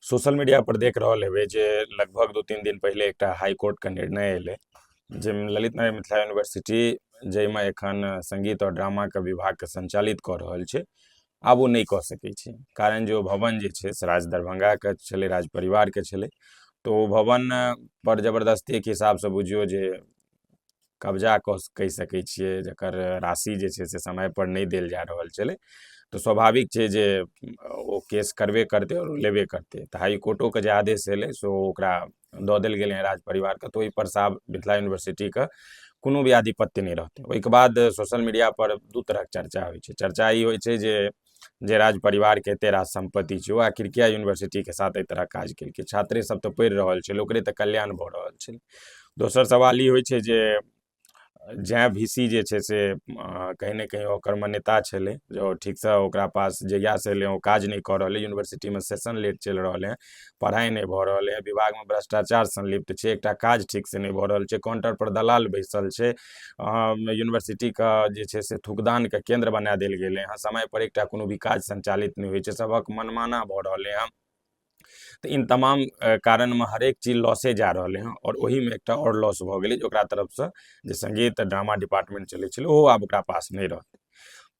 social media पर देख रहल हेबै जे लगभग दू तीन दिन पहिले एकटा हाई कोर्ट के निर्णय एलै जाहिमे ललित नारायण मिथिला यूनिवर्सिटी जाहिमे एखन संगीत आओर ड्रामा के विभाग के संचालित कऽ रहल छै आब ओ नहि कऽ सकै छै कारण जे ओ भवन जे छै से राज दरभंगा के छलै राज परिवार के छलै तऽ ओ भवन पर जबरदस्ती के हिसाब सँ बुझियौ जे कब्जा कऽ कहि सकै छिए जकर राशि जे छै से समयपर नहि देल जा रहल छलै तऽ स्वाभाविक छै जे ओ केस करबे करतै आओर लेबे करतै तऽ हाइकोर्टोके जे आदेश अएलै से ओ ओकरा दऽ देल गेलै हँ राज परिवारके तऽ ओहिपर से आब मिथिला यूनिवर्सिटीके कोनो भी आधिपत्य नहि रहतै ओहिके बाद सोशल मीडिआपर दुइ तरहके चरचा होइ छै चरचा ई होइ छै जे जे राज परिवारके एते राज सम्पत्ति छै ओ आखिर किया यूनिवर्सिटीके साथ एहि तरह काज केलकै छात्रे सब तऽ पढ़ि रहल छलै ओकरे तऽ कल्याण भऽ रहल छलै दोसर सवाल ई होइ छै जे जैं भी सी जे छै से कहीं ने कहीं ओकर मान्यता छलै जे ओ ठीकसँ ओकरा पास जहियासँ एलै ओ काज नहि कऽ रहलै यूनिवर्सिटीमे सेशन लेट चलि रहल हँ पढ़ाइ नहि भऽ रहल हँ विभागमे भ्रष्टाचार संलिप्त छै एकटा काज ठीकसँ नहि भऽ रहल छै काउंटर पर दलाल बैसल छै यूनिवर्सिटीके जे छै से थुकदानके केन्द्र बना देल गेलै हँ समयपर एकटा कोनो भी काज सञ्चालित नहि होइ छै सबके मनमाना भऽ रहलै हँ तऽ ई तमाम कारणमे हरेक चीज लॉसे जा रहलै हँ आओर ओहिमे एकटा आओर लॉस भऽ गेलै जे ओकरा तरफसँ जे सङ्गीत ड्रामा डिपार्टमेन्ट चलै छलै ओहो आब ओकरा पास नहि रहतै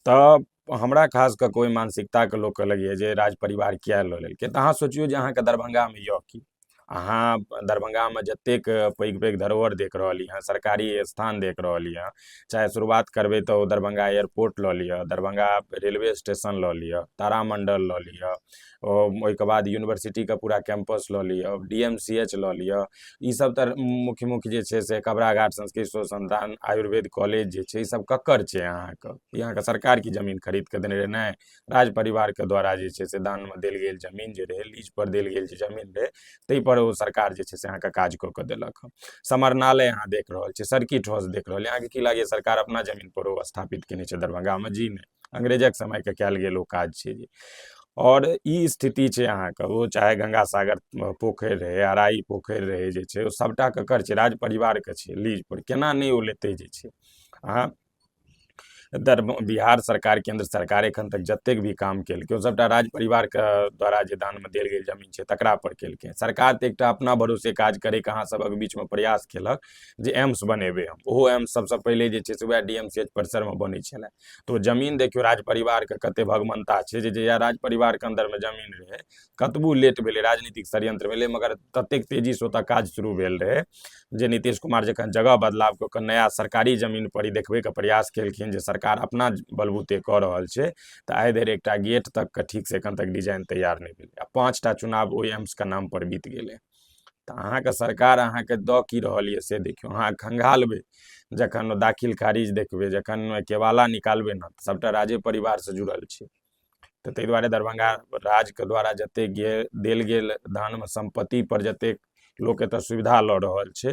तऽ हमरा खास कऽ कऽ ओहि मानसिकताके लोकके लगैए जे राज परिवार किएक लऽ लेलकै तऽ अहाँ सोचिऔ जे अहाँके दरभङ्गामे अइ कि अहाँ दरभङ्गामे जतेक पैघ पैघ धरोहर देख रहली हँ सरकारी अस्थान देख रहली हँ चाहे शुरुआत करबै तऽ ओ दरभङ्गा एयरपोर्ट लऽ लिअऽ दरभङ्गा रेलवे स्टेशन लऽ लिअऽ तारामण्डल लऽ लिअऽ ओहिके बाद यूनिवर्सिटीके पूरा कैम्पस लऽ लिअ डी एम सी एच लऽ लिअ ई सब तऽ मुख्य मुख्य जे छै से कबरा घाट संस्कृत अनुसन्धान आयुर्वेद कॉलेज जे छै ई सब ककर छै अहाँके ई अहाँके सरकार की जमीन खरीद कऽ देने रहै नहि राज परिवारके द्वारा जे छै से दानमे देल गेल जमीन जे रहै लीज पर देल गेल जे जमीन रहै ताहि पर ओ सरकार जे छै से अहाँके काज कऽ कऽ देलक हँ समरनालय अहाँ देख रहल छियै सर्किट हाउस देख रहल अहाँके की लागैए सरकार अपना जमीन पर ओ स्थापित केने छै दरभंगामे जी नहि अंग्रेजक समयके कयल गेल ओ काज छै जे आओर ई स्थिति छै अहाँके ओ चाहे गंगा सागर पोखरि रहै अराइ पोखरि रहै जे छै ओ सबटा ककर छै राज परिवारके छै लीज पर केना नहि ओ लेतै जे छै अहाँ दर बिहार सरकार केन्द्र सरकार एखन तक जतेक भी काम केलकै ओ सबटा राज परिवारके द्वारा जे दानमे देल गेल जमीन छै तकरा पर केलकै सरकार तऽ एकटा अपना भरोसे काज करैके अहाँ सबक बीचमे प्रयास केलक जे एम्स बनेबै हम ओहो एम्स सबसँ पहिले जे छै से वएह डी एम सी एच परिसरमे बनै छलए तऽ ओ जमीन देखियौ राज परिवारके कते भगमनता छै जे जहिया राज परिवारके अन्दरमे जमीन रहै कतबो लेट भेलै राजनीतिक षड्यंत्र भेलै मगर ततेक तेजीसँ ओतऽ काज शुरू भेल रहै जे नीतीश कुमार जखन जगह बदलाव कऽ कऽ नया सरकारी जमीन पर ई देखबैके प्रयास केलखिन जे सरकार अपना बलबूते कऽ रहल छै तऽ आइ धरि एकटा गेट तकके ठीकसँ एखन तक डिजाइन तैयार नहि भेलै आ पाँचटा चुनाव ओहि एम्सके नाम पर बीत गेलै तऽ अहाँके सरकार अहाँके दऽ की रहल यऽ से देखियौ अहाँ खंगालबै जखन दाखिल खारिज देखबै जखन केवाला निकालबै ने सभटा राजे परिवारसँ जुड़ल छै तऽ ताहि दुआरे दरभंगा राजके द्वारा जतेक गेल देल गेल दानमे सम्पत्तिपर जतेक लोक एतय सुविधा लऽ रहल छै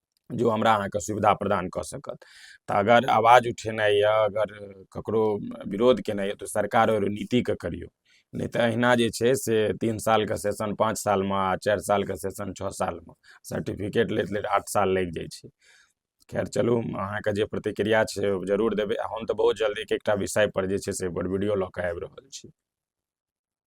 जे ओ हमरा अहाँके सुविधा प्रदान कऽ सकत तऽ अगर आवाज उठेनाइ यऽ अगर ककरो विरोध केनाइ यऽ तऽ सरकार आओर नीतिके करियौ नहि तऽ अहिना जे छै से तीन सालके सेशन पाँच सालमे आओर चारि सालके सेशन छओ सालमे सर्टिफिकेट लैत लैत आठ साल लागि जाइ छै खैर चलू अहाँके जे प्रतिक्रिया छै ओ जरूर देबै हम तऽ बहुत जल्दी एक एकटा विषयपर जे छै से ओकर वीडियो लऽ कऽ आबि रहल छी